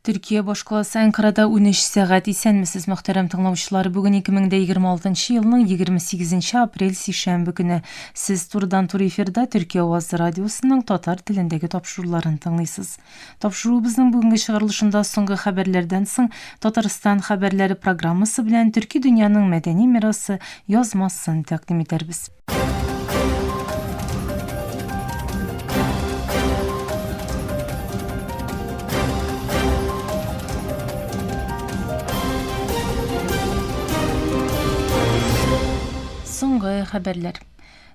Төркия башкаласы Әнкарада 13 сәгать. Исәнмесез, мөхтәрәм тыңлаучылар. Бүген 2026 елның 28 апрель сишәмбе көне. Сез турыдан-туры эфирда Төркия авазы радиосының татар телендәге тапшыруларын тыңлыйсыз. Тапшыруыбызның бүгенге чыгарылышында соңгы хәбәрләрдән соң Татарстан хәбәрләре программасы белән төрки дөньяның мәдәни мирасы язмасын тәкъдим итәрбез. Соңгы хәбәрләр.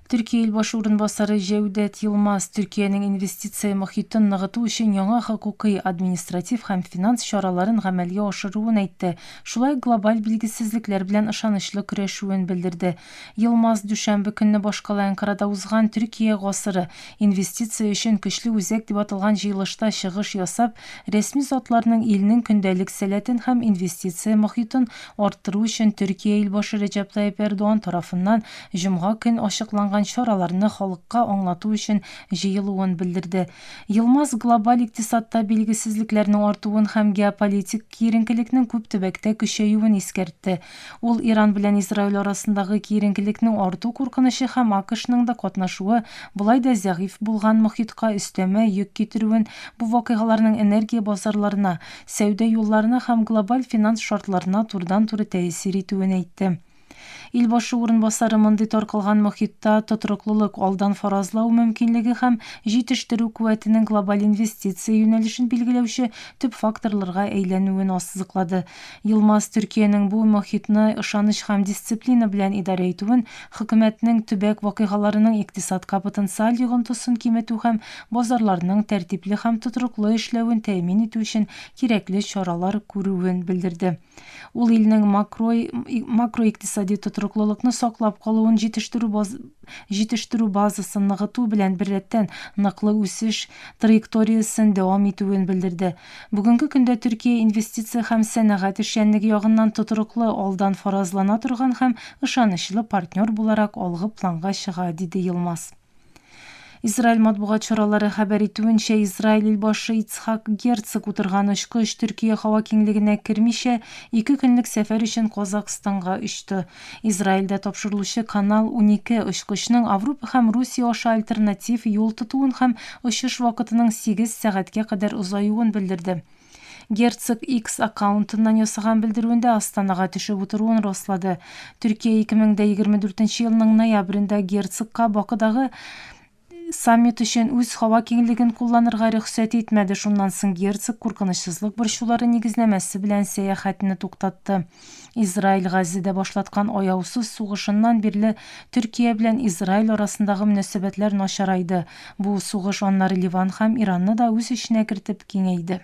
Төркия илбашы урынбасары Җәүдәт Йылмаз Төркиянең инвестиция мохитен ныгыту өчен яңа хокукый, административ һәм финанс чараларын гамәлгә ашыруын әйтте, шулай ук глобаль билгесезлекләр белән ышанычлы көрәшүен белдерде. Йылмаз дүшәмбе көнне башкала Әнкарада узган Төркия гасыры, инвестиция өчен көчле үзәк дип аталган җыелышта чыгыш ясап, рәсми затларның илнең көндәлек сәләтен һәм инвестиция мохитын арттыру өчен Төркия илбашы Рәҗәп Таип Эрдуан тарафыннан җомга көн ачыкланган чараларны халыкка аңлату өчен җыелуын белдерде. Йылмаз глобаль икътисадта билгесезлекләрнең артуын һәм геополитик киеренкелекнең күп төбәктә көчәюен искәртте. Ул Иран белән Израиль арасындагы киеренкелекнең арту куркынычы һәм АКШның да катнашуы болай да зәгыйфь булган мохитка өстәмә йөк китерүен, бу вакыйгаларның энергия базарларына, сәүдә юлларына һәм глобаль финанс шартларына турыдан-туры тәэсир итүен әйтте. Ил башы урынбасары мондый таркалган мохитта тотрыклылык, алдан фаразлау мөмкинлеге һәм җитештерү куәтенең глобаль инвестиция юнәлешен билгеләүче төп факторларга әйләнүен ассызыклады. Йылмаз Төркиянең бу мохитны ышаныч һәм дисциплина белән идарә итүен, хөкүмәтнең төбәк вакыйгаларының икътисадка потенциаль йогынтысын киметү һәм базарларның тәртипле һәм тотрыклы эшләвен тәэмин итү өчен кирәкле чаралар күрүен белдерде. Ул илнең макро макроикътисади тотрыклылыкны саклап калуын, җитештерү җитештерү базасын ныгыту белән беррәттән, ныклы үсеш траекториясен дәвам итүен белдерде. Бүгенге көндә Төркия инвестиция һәм сәнәгать эшчәнлеге ягыннан тотрыклы, алдан фаразлана торган һәм ышанычлы партнер буларак алгы планга чыга, диде Йылмаз. Израиль матбугат чаралары хәбәр итүенчә, Израиль илбашы Ицхак Герцог утырган очкыч Төркия һава киңлегенә кермичә, ике көнлек сәфәр өчен Казакъстанга очты. Израильдә тапшырылучы Канал унике очкычның Авропа һәм Русия аша альтернатив юл тотуын һәм очыш вакытының сигез сәгатькә кадәр озаюын белдерде. Герцог X аккаунтыннан ясаган белдерүендә Астанага төшеп утыруын раслады. Төркия 2024 елның ноябрендә герцогка Бакыдагы саммит өчен үз һава киңлеген кулланырга рөхсәт итмәде, шуннан соң герцог куркынычсызлык борчулары нигезнәмәсе белән сәяхәтне туктатты. Израиль Газзәдә башлаткан аяусыз сугышыннан бирле Төркия белән Израиль арасындагы мөнәсәбәтләр начарайды, бу сугыш аннары Ливан һәм Иранны да үз эченә кертеп киңәйде.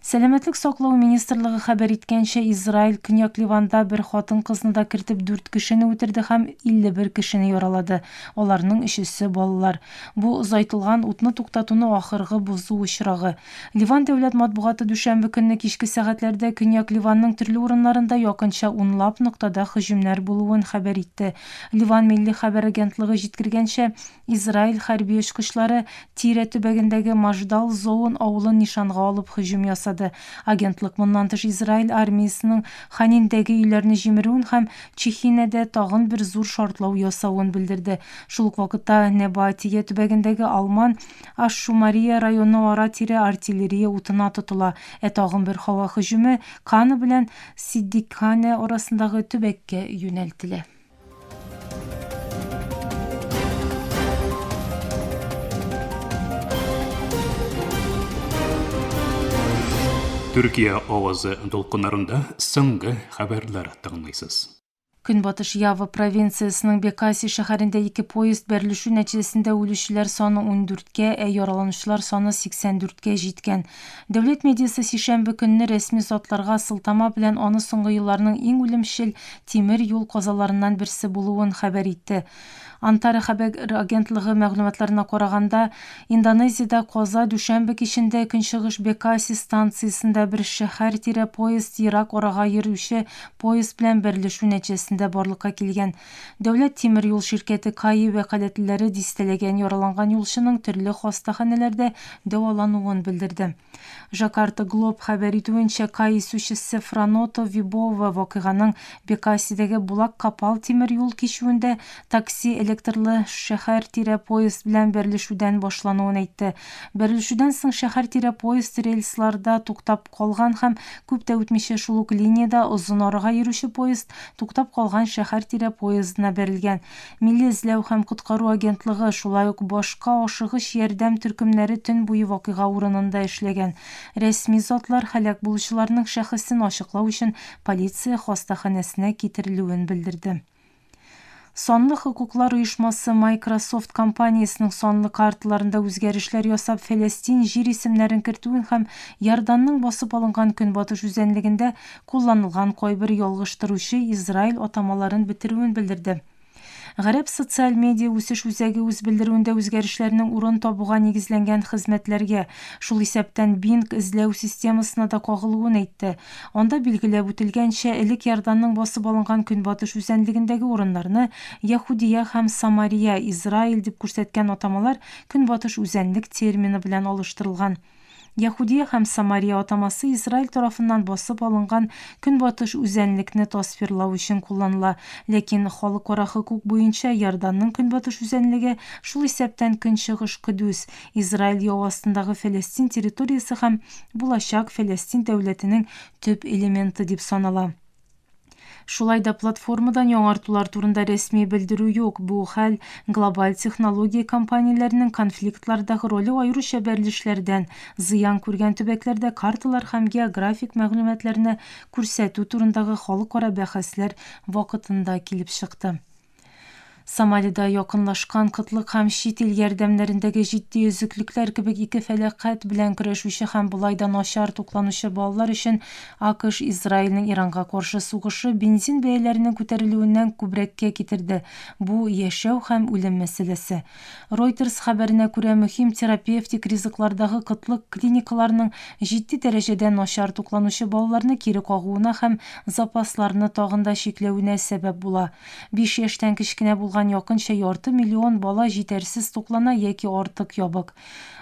Сәламәтлек саклау министрлыгы хәбәр иткәнчә, Израиль Көньяк Ливанда бер хатын-кызны да кертеп дүрт кешене үтерде һәм 51 кешене яралады, аларның өчесе балалар. Бу озайтылган утны туктатуны ахыргы бозу очрагы. Ливан дәүләт матбугаты дүшәмбе көнне кичке сәгатьләрдә Көньяк Ливанның төрле урыннарында якынча унлап ноктада һөҗүмнәр булуын хәбәр итте. Ливан милли хәбәр агентлыгы җиткергәнчә, Израиль хәрби очкычлары Тирә төбәгендәге Мождал Зоун авылын нишанга алып һөҗүм ясады. Агентлык моннан тыш Израиль армиясенең Ханиндәге өйләрне җимерүен һәм Чехинәдә тагын бер зур шартлау ясавын белдерде. Шул ук вакытта Небаатия төбәгендәге Алман Аш-Шумария районы ара-тирә артиллерия утына тотыла, ә тагын бер һава һөҗүме Кана белән Сиддикханә арасындагы төбәккә юнәлтелә. Төркия авазы дулкыннарында соңгы хәбәрләр тыңлыйсыз. Көнбатыш Ява провинциясенең Бекаси шәһәрендә ике поезд бәрелешү нәтиҗәсендә үлүчеләр саны ундүрткә, ә яраланучылар саны 84 кә җиткән. Дәүләт медиасы сишәмбе көнне рәсми затларга сылтама белән аны соңгы елларның иң үлемчел тимер юл казаларыннан берсе булуын хәбәр итте. Антара хәбәг р агентлыгы мәгълүматларына караганда, Индонезиядә каза дүшәмбе кичендә Көнчыгыш Бекаси станциясендә бер шәһәр тирә поезд ерак арага йөр үче поезд белән бәрелешү нәтиҗәсендә барлыкка килгән. Дәүләт тимер юл ширкәте каи вәкаләтлеләре дистәләгән яраланган юлчының төрле хастаханәләрдә дәвалануын белдерде. Жакарта Глоб хәбәр итүенчә, кай исүчесе Франотто Вибова вакыйганың Бекасидәге Булак-Капал тимер юл кичүендә такси электрлы шәһәр тирә поезд белән бәрелешүдән башлануын әйтте. Бәрелешүдән соң шәһәр тирә поезд рельсларда туктап калган һәм күп тә үтмичә шул ук линиядә озын арага йөрүче поезд туктап калган шәһәр тирә поездына бәрелгән. Милли эзләү һәм коткару агентлыгы, шулай ук башка ашыгыч ярдәм төркемнәре төн буе вакыйга урынында эшләгән. Рәсми затлар һәлак булучыларның шәхесен ачыклау өчен полиция хастаханәсенә китерелүен белдерде. Санлы хокуклар оешмасы Microsoft компаниясенең санлы карталарында үзгәрешләр ясап, Фәләстин җир исемнәрен кертүен һәм Иорданның басып алынган Көнбатыш үзәнлегендә Кулланылган кайбер ялгыштыручы Израиль атамаларын бетерүен белдерде. Гарәп социаль медиа үсеш үзәге үз белдерүендә үзгәрешләрнең урын табуга нигезләнгән хезмәтләргә, шул исәптән Bing эзләү системасына да кагылуын әйтте. Анда билгеләп үтелгәнчә, элек Иорданның басып алынган көнбатыш үзәнлегендәге урыннарны Яһүдия һәм Самария, Израиль дип күрсәткән атамалар көнбатыш үзәнлек термины белән алыштырылган. Яһүдия һәм Самария атамасы Израиль тарафыннан басып алынган көнбатыш үзәнлекне тасвирлау өчен кулланыла, ләкин халыкара хокук буенча Иорданның көнбатыш үзәнлеге, шул исәптән көнчыгыш Көдүс, Израиль яу астындагы Фәләстин территориясе һәм булачак Фәләстин дәүләтенең төп элементы дип санала. Шулай да платформадан яңартулар турында рәсми белдерү юк. Бу хәл глобаль технология компанияләренең конфликтлардагы роле аеруча бәрелешләрдән зыян күргән төбәкләрдә карталар һәм географик мәгълүматларны күрсәтү турындагы халыкара бәхәсләр вакытында килеп чыкты. Сомалида якынлашкан кытлык һәм чит ил ярдәмнәрендәге җитди өзеклекләр кебек ике фәлакать белән көрәшүче һәм болай да начар тукланучы балалар өчен АКШ Израильнең Иранга каршы сугышы бензин бәяләренең күтәрелүеннән күбрәккә китерде, бу, яшәү һәм үлем мәсьәләсе. Reuters хәбәренә күрә, мөһим терапевтик ризыклардагы кытлык клиникаларның җитди дәрәҗәдә начар тукланучы балаларны кире кагуына һәм запасларны тагын да чикләвенә сәбәп була. Биш яшьтән кечкенә булган якынча ярты миллион бала җитәрсез туклана яки артык ябык.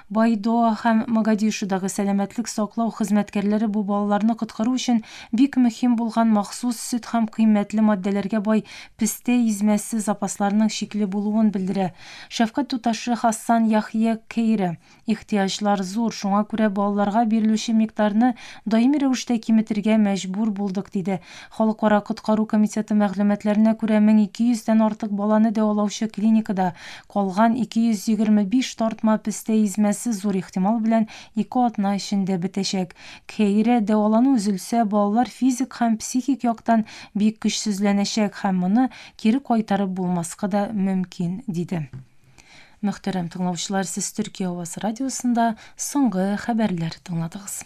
Байдоа һәм Могадишудагы сәламәтлек саклау хезмәткәрләре бу балаларны коткару өчен бик мөһим булган махсус сөт һәм кыйммәтле маддәләргә бай пестә измәсе запасларының чикле булуын белдерә. Шәфкать туташы Хассан Яхъя Кейра, Ихтыяҗлар зур, шуңа күрә балаларга бирелүче микъдарны даими рәвештә киметергә мәҗбүр булдык, диде. Халыкара коткару комитеты мәгълүматларына күрә, 1200 дән артык баланы дәвалаучы клиникада Калган 225 тартма пестә измәсе зур ихтимал белән ике атна эчендә бетәчәк. Кхейре, дәвалану өзелсә, балалар физик һәм психик яктан бик көчсезләнәчәк һәм моны кире кайтарып булмаска да мөмкин, диде. Мөхтәрәм тыңлаучылар, сез Төркия авасы радиосында соңгы хәбәрләр тыңладыгыз.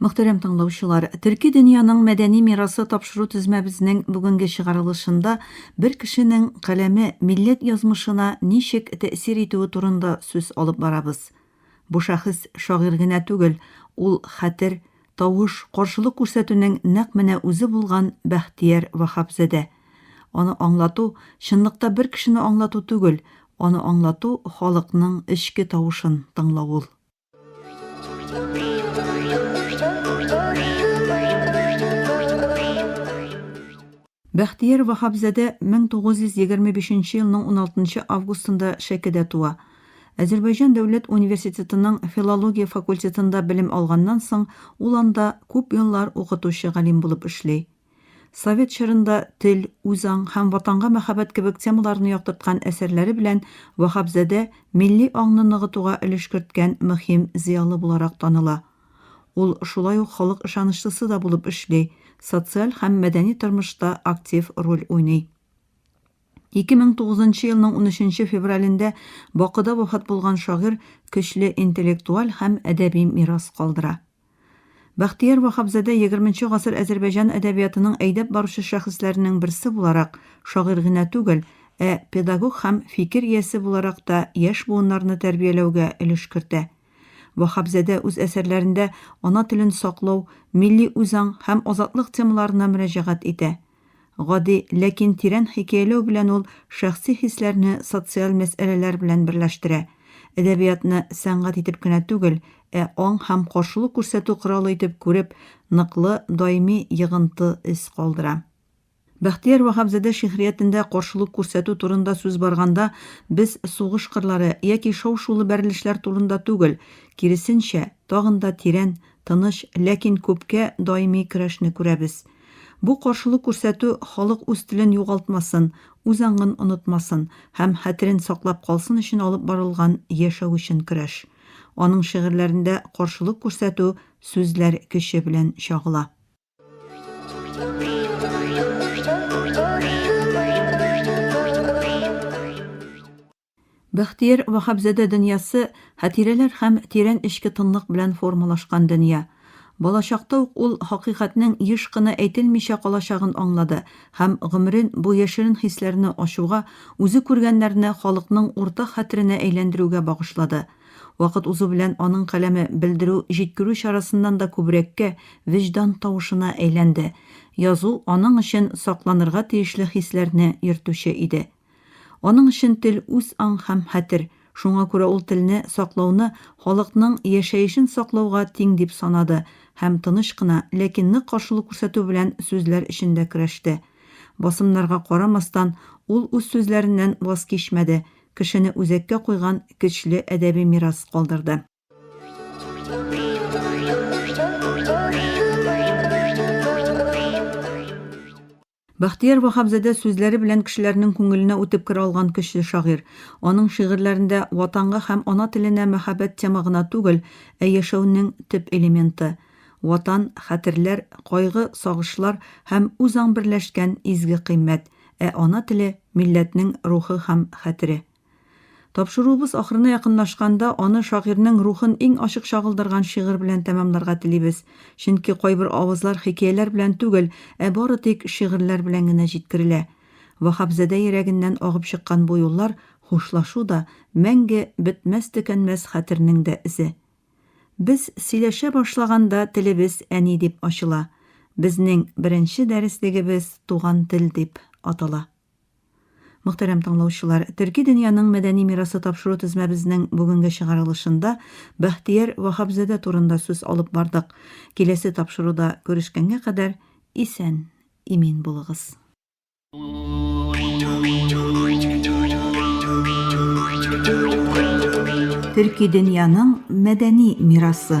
Мөхтәрәм тыңлаучылар, Төрки дөньяның мәдәни мирасы тапшыру тезмәбезнең бүгенге чыгарылышында бер кешенең каләме милләт язмышына ничек тәэсир итүе турында сүз алып барабыз. Бу шәхес шагыйрь генә түгел, ул хәтер, тавыш, каршылык күрсәтүнең нәкъ менә үзе булган Бәхтияр Ваһапзадә. Аны аңлату, чынлыкта бер кешене аңлату түгел, аны аңлату, халыкның эчке тавышын тыңлау ул. Бәхтияр Ваһабзадә 1925 елның 16 августында Шәкедә туа. Азербайҗан дәүләт университетының филология факультетында белем алганнан соң, ул анда күп еллар укытучы галим булып эшли. Совет чорында тел, үзаң һәм ватанга мәхәббәт кебек темаларны яктырткан әсәрләре белән Ваһапзадә милли аңны ныгытуга өлеш керткән мөһим зыялы буларак таныла. Ул шулай ук халык ышанычлысы да булып эшли, социаль һәм мәдәни тормышта актив роль уйный. 2009 нчы елның 13 нче февралендә Бакыда вафат булган шагыйрь көчле интеллектуаль һәм әдәби мирас калдыра. Бәхтияр Ваһапзадә егерменче гасыр Әзербәйҗан әдәбиятының әйдәп баручы шәхесләренең берсе буларак, шагыйрь генә түгел, ә педагог һәм фикер иясе буларак та яшь буыннарны тәрбияләүгә өлеш кертә. Ваһапзадә үз әсәрләрендә ана телен саклау, милли үзаң һәм азатлык темаларына мөрәҗәгать итә. Гади, ләкин тирән хикәяләү белән ул шәхси хисләрне социаль мәсьәләләр белән берләштерә. Әдәбиятны сәнгать итеп кенә түгел, ә аң һәм каршылык күрсәтү коралы итеп күреп, ныклы, даими йогынты эз калдыра. Бәхтияр Ваһапзадә шигъриятендә каршылык күрсәтү турында сүз барганда, без сугыш кырлары яки шау-шулы бәрелешләр турында түгел, киресенчә, тагын да тирән, тыныч, ләкин күпкә даими көрәшне күрәбез. Бу каршылык күрсәтү халык үз телен югалтмасын, үз аңын онытмасын һәм хәтерен саклап калсын өчен алып барылган яшәү өчен көрәш. Аның шигырьләрендә каршылык күрсәтү сүзләр көче белән чагыла. Бәхтияр Ваһапзадә дөньясы хатирәләр һәм тирән эчке тынлык белән формалашкан дөнья. Балачакта ук ул хакыйкатьнең еш кына әйтелмичә калачагын аңлады һәм гомерен бу яшерен хисләрне ачуга, үзе күргәннәрне халыкның уртак хәтеренә әйләндерүгә багышлады. Вакыт узу белән аның каләме белдерү-җиткерү чарасыннан да күбрәккә вөҗдан тавышына әйләнде. Язу аның өчен сакланырга тиешле хисләрне йөртүче иде. Аның өчен тел үз аң һәм хәтер, шуңа күрә ул телне саклауны халыкның яшәешен саклауга тиң дип санады һәм тыныч кына, ләкин нык каршылык күрсәтү белән сүзләр өчен дә көрәште. Басымнарга карамастан, ул үз сүзләреннән ваз кичмәде, кешене үзәккә куйган көчле әдәби мирас калдырды. Бәхтияр Ваһапзадә сүзләре белән кешеләрнең күңеленә үтеп керә алган көчле шагыйрь. Аның шигырьләрендә Ватанга һәм ана теленә мәхәббәт тема гына түгел, ә яшәүнең төп элементы. Ватан, хәтерләр, кайгы, сагышлар һәм үзаң берләшкән изге кыйммәт, ә ана теле, милләтнең рухы һәм хәтере. Тапшыруыбыз ахырына якынлашканда, аны шагыйрьнең рухын иң ачык чагылдырган шигырь белән тәмамларга телибез. Чөнки кайбер авызлар хикәяләр белән түгел, ә бары тик шигырьләр белән генә җиткерелә. Ваһапзадә йөрәгеннән агып чыккан бу юллар, хушлашу да, мәңге бетмәс-төкәнмәс хәтернең дә эзе. Без сөйләшә башлаганда телебез әни дип ачыла. Безнең беренче дәреслегебез Туган тел дип атала. Мөхтәрәм тыңлаучылар, Төрки дөньяның мәдәни мирасы тапшыру тезмәбезнең бүгенге чыгарылышында Бәхтияр Ваһапзадә турында сүз алып бардык. Киләсе тапшыруда күрешкәнгә кадәр исән, имин булыгыз. Төрки дөньяның мәдәни мирасы.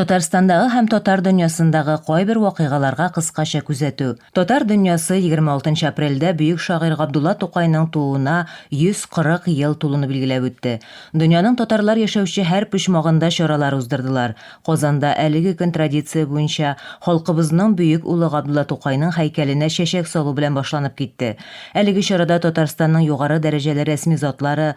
Татарстандагы һәм татар дөньясындагы кайбер вакыйгаларга кыскача күзәтү. Татар дөньясы 26 апрельдә бөек шагыйрь Габдулла Тукайның тууына 140 ел тулуны билгеләп үтте. Дөньяның татарлар яшәүче һәр почмагында чаралар уздырдылар. Казанда әлеге көн традиция буенча халкыбызның бөек улы Габдулла Тукайның һәйкәленә чәчәк салу белән башланып китте. Әлеге чарада Татарстанның югары дәрәҗәле рәсми затлары,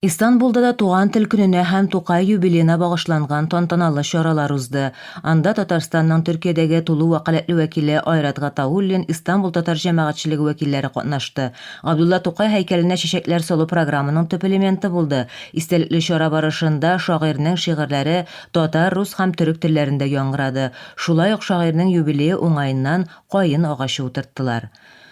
Истанбулда да Туган тел көненә һәм Тукай юбилеена багышланган тантаналы чаралар узды. Анда Татарстанның Төркиядәге тулы вәкаләтле вәкиле Айрат Гатауллин, Истанбул татар җәмәгатьчелеге вәкилләре катнашты. Габдулла Тукай һәйкәленә чәчәкләр салу программаның төп элементы булды. Истәлекле чара барышында шагыйрьнең шигырьләре татар, рус һәм төрек телләрендә яңгырады. Шулай ук шагыйрьнең юбилее уңаеннан каен агачы утырттылар.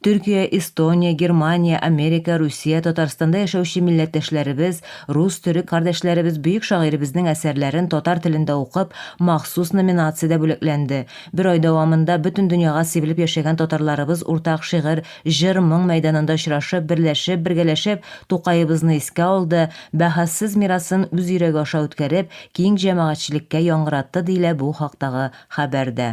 Төркия, Эстония, Германия, Америка, Русия, Татарстанда яшәүче милләттәшләребез, рус, төрек кардәшләребез бөек шагыйребезнең әсәрләрен татар телендә укып, махсус номинациядә бүләкләнде. Бер ай дәвамында бөтен дөньяга сибелеп яшәгән татарларыбыз уртак шигырь, җыр, моң мәйданында очрашып, берләшеп, бергәләшеп Тукаебызны искә алды, бәһасез мирасын үз йөрәге аша үткәреп, киң җәмәгатьчелеккә яңгыратты, диелә бу хактагы хәбәрдә.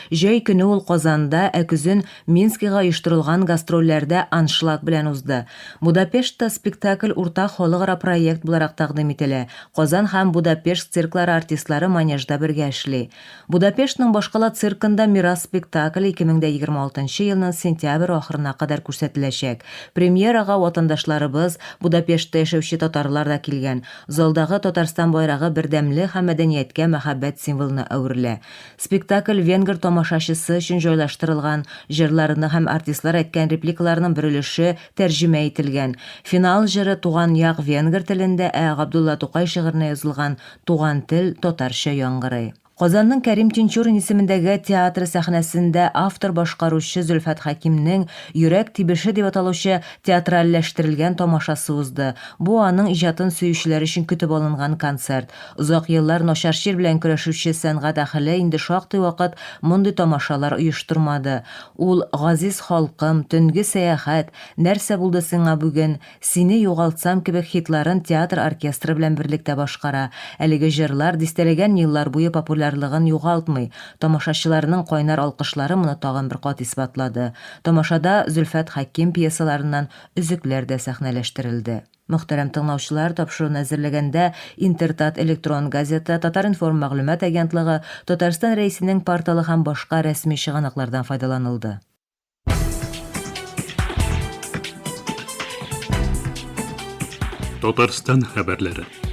Җәй көне ул Казанда, ә көзен Минскига оештырылган гастрольләрдә аншлаг белән узды. Будапештта спектакль уртак халыкара проект буларак тәкъдим ителә, Казан һәм Будапешт цирклары артистлары манежда бергә эшли. Будапештның башкала циркында Мирас спектакле 2026 елның сентябрь ахырына кадәр күрсәтеләчәк. Премьерага ватандашларыбыз, Будапештта яшәүче татарлар да килгән. Залдагы Татарстан байрагы бердәмлек һәм мәдәнияткә мәхәббәт символына әверелә. Спектакль венгр тамашачысы өчен җайлаштырылган, җырларының һәм артистлар әйткән репликаларының бер өлеше тәрҗемә ителгән. Финал җыры Туган як венгр телендә, ә Габдулла Тукай шигыренә язылган Туган тел татарча яңгырый. Казанның Кәрим Тинчурин исемендәге театры сәхнәсендә автор-башкаручы Зөлфәт Хәкимнең Йөрәк тибеше дип аталучы театральләштерелгән тамашасы узды. Бу аның иҗатын сөючеләр өчен көтеп алынган концерт. Озак еллар начар чир белән көрәшүче сәнгать әһеле инде шактый вакыт мондый тамашалар оештырмады. Ул Газиз халкым, Төнге сәяхәт, Нәрсә булды сиңа бүген, Сине югалтсам кебек хитларын театр оркестры белән берлектә башкара. Әлеге җырлар дистәләгән еллар буе популярлыгын югалтмый. Тамашачыларның кайнар алкышлары моны тагын бер кат исбатлады. Тамашада Зөлфәт Хәким пьесаларыннан өзекләр дә сәхнәләштерелде. Мөхтәрәм тыңлаучылар, тапшыруны әзерләгәндә Интертат электрон газета, Татар-информ мәгълүмат агентлыгы, Татарстан Рәисенең порталы һәм башка рәсми чыганаклардан файдаланылды. Татарстан хәбәрләре.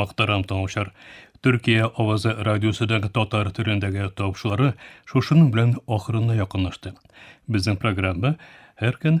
Мактарам тыңлаучылар. Төркия авазы радиосыдагы татар төрендәге тавышлары шушының белән ахырына якынлашты. Безнең программа һәр көн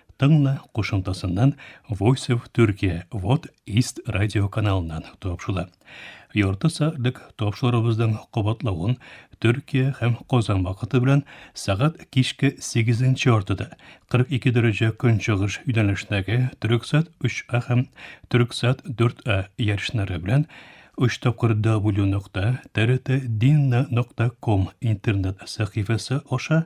Тыңла кушымтасыннан Voice of Turkey Вот Ист радио каналыннан тапшыла. Ярты сәгатьлек тапшырыбызның кабатлавын Төркия һәм Казан вакыты белән сәгать кичке 8 яртыда 42 дәрәҗә көнчыгыш юнәлешендәге Төрксат 3А һәм Төрксат 4А ярышлары белән 3 тапкыр w.trtdinna.com интернет сәхифәсе аша